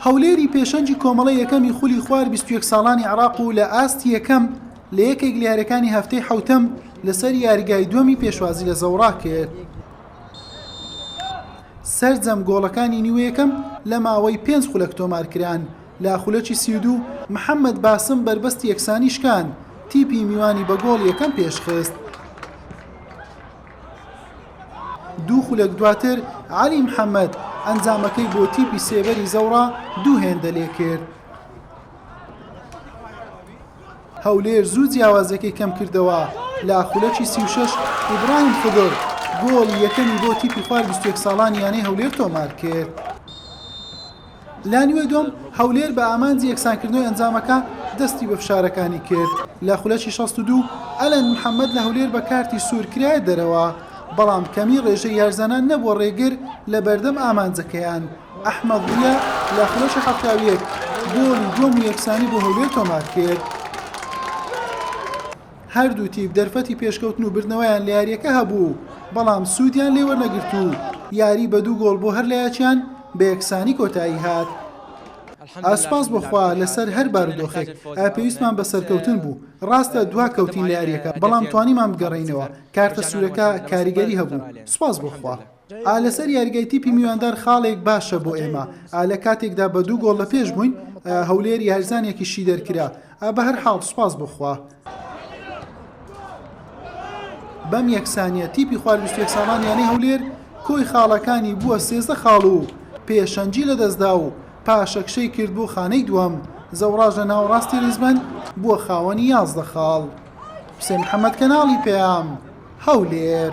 هەولێری پێشەنگی کۆمەڵەی یەکەمی خولی خوار بیست و یەک ساڵانی عێراق و لە ئاستی یەکەم لە یەکێک لە یاریەکانی هەفتەی حەوتەم لەسەر یاریگای دووەمی پێشوازی لە زەوڕا کرد. سەرجەم گۆڵەکانی نیوە یەکەم لە ماوەی پێنج خولەک تۆمار کران، لە خولەکی سی و دوو محەممەد باسم بەربەستی یەکسانی شکاند، تیپی میوانی بە گۆڵ یەکەم پێشخست. دوو خولەک دواتر عەلی محەمەد ئەنجامەکەی بۆ تیپی سێبەری زەوڕا دوو هێندە لێکرد. هەولێر زوو جیاوازەکەی کەم کردەوە لە خولەکی سی و شەش ئیبراهیم خدر گۆڵی یەکەمی بۆ تیپی خوار بیست و یەک ساڵان یانەی هەولێر تۆمار کرد. لانیوەی دووەم، هەولێر بە ئامانجی یەکسانکردنەوەی ئەنجامەکە دەستی بە فشارەکانی کرد، لە خولەکی شەست و دوو ئەلەند محەمەد لە هەولێر بە کارتی سوور کرایە دەرەوە، بەڵام کەمیی رێژەی یارزانان نەبووە رێگر لە بەردەم ئامانجەکەیان، ئەحمەد ضیا لە خولەکی حەفتا و یەک گۆڵی دووەم و یەکسانی بۆ هەولێر تۆمارکرد. هەردوو تیپ دەرفەتی پێشکەوتن و بردنەوەیان لە یارییەکە هەبوو، بەڵام سوودیان لێ وەرنەگرت و یاری بە دوو گۆڵ بۆ هەر لایەکیان بە یەکسانی کۆتایی هات. ئا سوپاس بۆ خوا لەسەر هەر بارودۆخێک، ئا پێویستمان بە سەرکەوتن بوو، ڕاستە دوا کەوتین لە یارییەکە، بەڵام توانیمان بگەڕێینەوە، کارتە سوورەکە کاریگەری هەبوو، سوپاس بۆ خوا. ئا لەسەر یاریگای تیپی میواندار خاڵێک باشە بۆ ئێمە ئا لە کاتێکدا بە دوو گۆڵ لە پێش بووین ئا هەولێر یارزانێکی شی دەرکرا ئا بە هەر حاڵ سوپاس بۆ خوا. بەم یەکسانیە تیپی خوار بیست و یەک ساڵان یانەی هەولێر کۆی خاڵەکانی بووە سێزدە خاڵ و پێشەنگی لە دەستدا و پاشەکشەی کرد بۆ خانەی دووەم زەوڕاژ لە ناوەڕاستی ریزبەند بووە خاوەنی یازدە خاڵ. حوسێن محەمەد کەناڵی پەیام هەولێر.